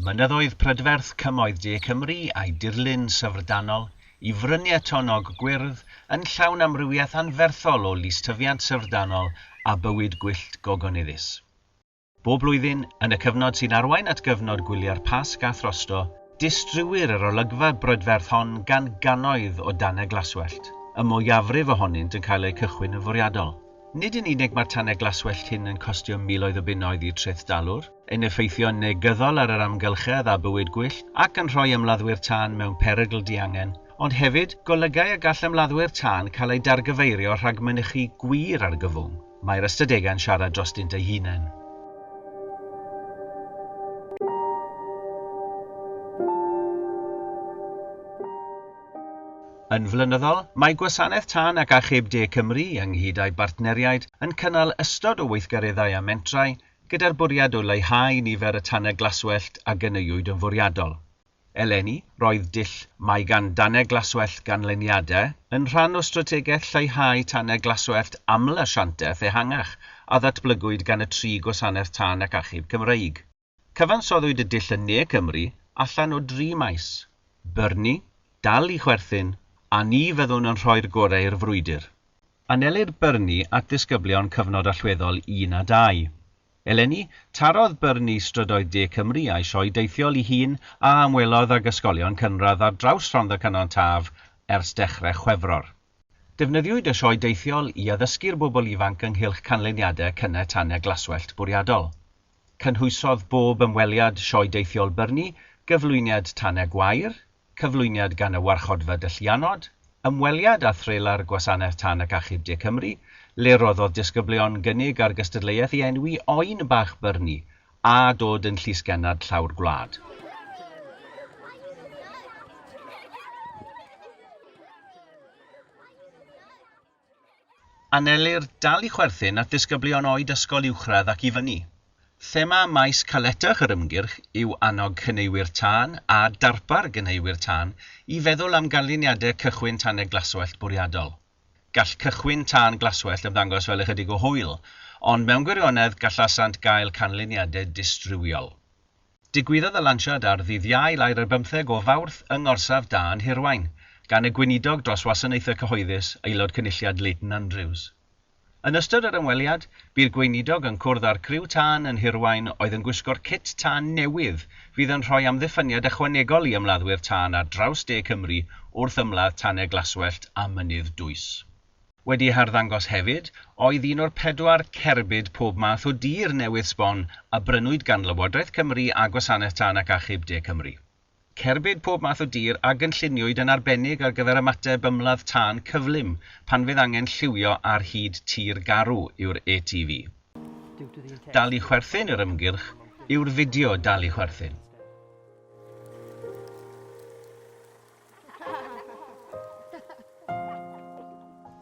Mynyddoedd prydferth Cymoedd De Cymru a'i dirlun syfrdanol i fryniau tonnog gwyrdd yn llawn amrywiaeth anferthol o lystyfiant syfrdanol a bywyd gwyllt gogonyddus. Bob blwyddyn, yn y cyfnod sy'n arwain at gyfnod gwyliau'r Pasg a throsto, distriwir yr olygfa brydferth hon gan gannoedd o danau glaswellt, y mwyafrif ohonynt yn cael eu cychwyn yn fwriadol. Nid yn unig mae'r tanau glaswellt hyn yn costio miloedd o bunnoedd i'r trethdalwr, yn effeithio'n negyddol ar yr amgylchedd a bywyd gwyllt ac yn rhoi ymladdwyr tân mewn perygl diangen, ond hefyd, golygai y gall ymladdwyr tân cael eu dargyfeirio rhag mynychu gwir argyfwng. Mae'r ystadegau'n siarad drostynt eu hunain. Yn flynyddol, mae Gwasanaeth Tân ac Achub De Cymru, ynghyd â'i bartneriaid, yn cynnal ystod o weithgareddau a mentrau gyda'r bwriad o leihau nifer y tanau glaswellt a gynaewyd yn fwriadol. Eleni, roedd dull Mae gan danau glaswellt ganlyniadau yn rhan o strategaeth lleihau tanau glaswellt aml-asiantaeth ehangach a ddatblygwyd gan y tri gwasanaeth tân ac achub Cymreig. Cyfansoddwyd y dull yn Ne Cymru allan o dri maes, byrni, dal i chwerthin, a ni fyddwn yn rhoi'r gorau i'r frwydr. Anelir Byrni at ddisgyblion cyfnod allweddol un a dau. Eleni, tarodd Byrni strydoedd de Cymru a'i sioe deithiol i hun a ymwelodd ag ysgolion cynradd ar draws Rhondda Cynon Taf ers dechrau Chwefror. Defnyddiwyd y sioe deithiol i addysgu'r bobl ifanc ynghylch canlyniadau cynnau tanau glaswellt bwriadol. Cynhwysodd bob ymweliad Sioe Deithiol Byrni gyflwyniad Tane Gwair, cyflwyniad gan y Warchodfa Dylliannod, ymweliad â threlar Gwasanaeth Tân ac Achub De Cymru, le rhoddodd disgyblion gynnig ar gystadleuaeth i enwi oen bach Byrni a dod yn llysgennad llawr gwlad. Anelir dal i chwerthin at ddisgyblion oed ysgol uwchradd ac i fyny. Thema maes caletach yr ymgyrch yw annog cyneuwyr tân a darpar gyneuwyr tân i feddwl am ganlyniadau cychwyn tanau glaswellt bwriadol. Gall cychwyn tân glaswellt ymddangos fel ychydig o hwyl, ond mewn gwirionedd gallasant gael canlyniadau distriwiol. Digwyddodd y lansiad ar ddydd Iau lau'r ar bymtheg o Fawrth yng Ngorsaf Dân Hirwaun, gan y Gweinidog dros Wasanaethau Cyhoeddus, Aelod Cynulliad Leighton Andrews. Yn ystod yr ymweliad, bu'r Gweinidog yn cwrdd â'r criw tân yn Hirwaun oedd yn gwisgo'r cit tân newydd fydd yn rhoi amddiffyniad ychwanegol i ymladdwyr tân ar draws de Cymru wrth ymladd tanau glaswellt a mynydd dwys. Wedi harddangos hefyd oedd un o'r pedwar cerbyd pob math o dir newydd sbon a brynwyd gan Lywodraeth Cymru a Gwasanaeth Tân ac Achub De Cymru. Cerbyd pob math o dir a gynlluniwyd yn arbennig ar gyfer ymateb ymladd tân cyflym pan fydd angen lliwio ar hyd tir garw yw'r ATV. Dal i chwerthin yr ymgyrch yw'r fideo Dal i chwerthin.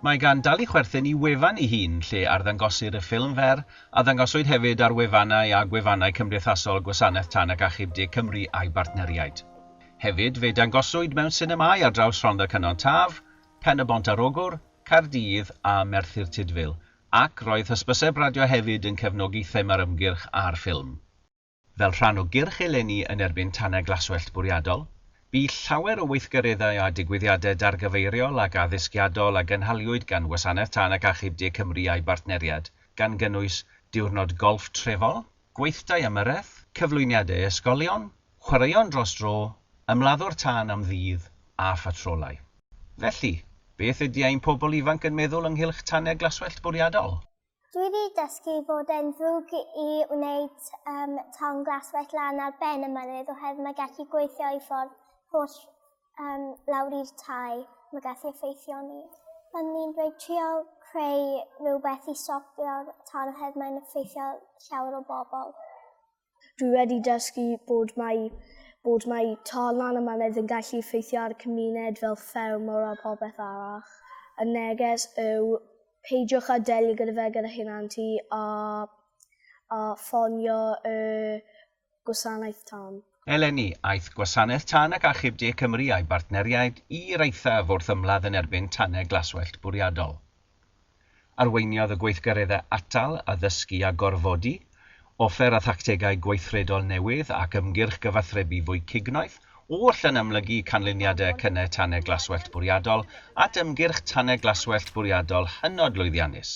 Mae gan Dali chwerthin i wefan ei hun lle arddangosir y ffilm fer, a ddangoswyd hefyd ar wefannau a gwefannau cymdeithasol Gwasanaeth Tân ac Achub De Cymru a'i bartneriaid. Hefyd, fe dangoswyd mewn sinemâu ar draws Rhondda Cynon Taf, Pen-y-bont ar Ogwr, Caerdydd a Merthyr Tudful, ac roedd hysbyseb radio hefyd yn cefnogi thema'r ymgyrch a'r ffilm. Fel rhan o gyrch eleni yn erbyn tanau glaswellt bwriadol, bu llawer o weithgareddau a digwyddiadau dargyfeiriol ac addysgiadol a gynhaliwyd gan Wasanaeth Tân ac Achub De Cymru a'i bartneriaid, gan gynnwys diwrnod golff trefol, gweithdai ymyrraeth, cyflwyniadau ysgolion, chwaraeon dros dro, ymladdwr tân am ddydd, a phatrolau. Felly, beth ydy ein pobl ifanc yn meddwl ynghylch tanau glaswellt bwriadol? Dwi wedi dysgu fod e'n ddrwg i wneud um, ton glas wet lan ar ben y mynydd oherwydd mae gallu gweithio i ffordd holl um, lawr i'r tai. Mae gallu effeithio ni. Ond ni'n dweud trio creu rhywbeth i stopio'r ton oherwydd mae'n effeithio llawer o bobl. Dwi wedi dysgu bod mae bod mae tornau'n y mynydd yn gallu effeithio ar y cymuned fel ffermwr a popeth arall. Y neges yw peidiwch â delio gyda fe gyda hunan ti a, a ffonio y gwasanaeth tân. Eleni, aeth Gwasanaeth Tân ac Achub De Cymru a'i bartneriaid i'r eithaf wrth ymladd yn erbyn tanau glaswellt bwriadol. Arweiniodd y gweithgareddau atal, addysgu a gorfodi, offer a thactegau gweithredol newydd ac ymgyrch gyfathrebu fwy cignoeth, oll yn amlygu canlyniadau y cynnau tanau glaswellt bwriadol at ymgyrch tanau glaswellt bwriadol hynod lwyddiannus.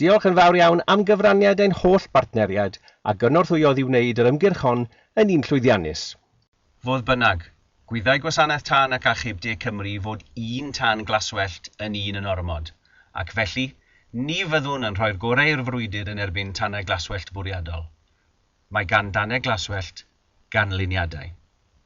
Diolch yn fawr iawn am gyfraniad ein holl bartneriaid a gynorthwyodd i wneud yr ymgyrch hon yn un llwyddiannus. Fodd bynnag, gwyddai Gwasanaeth Tân ac Achub De Cymru fod un tân glaswellt yn un yn ormod, ac felly, ni fyddwn yn rhoi'r gorau i'r frwydr yn erbyn tanau glaswellt bwriadol. Mae gan danau glaswellt ganlyniadau.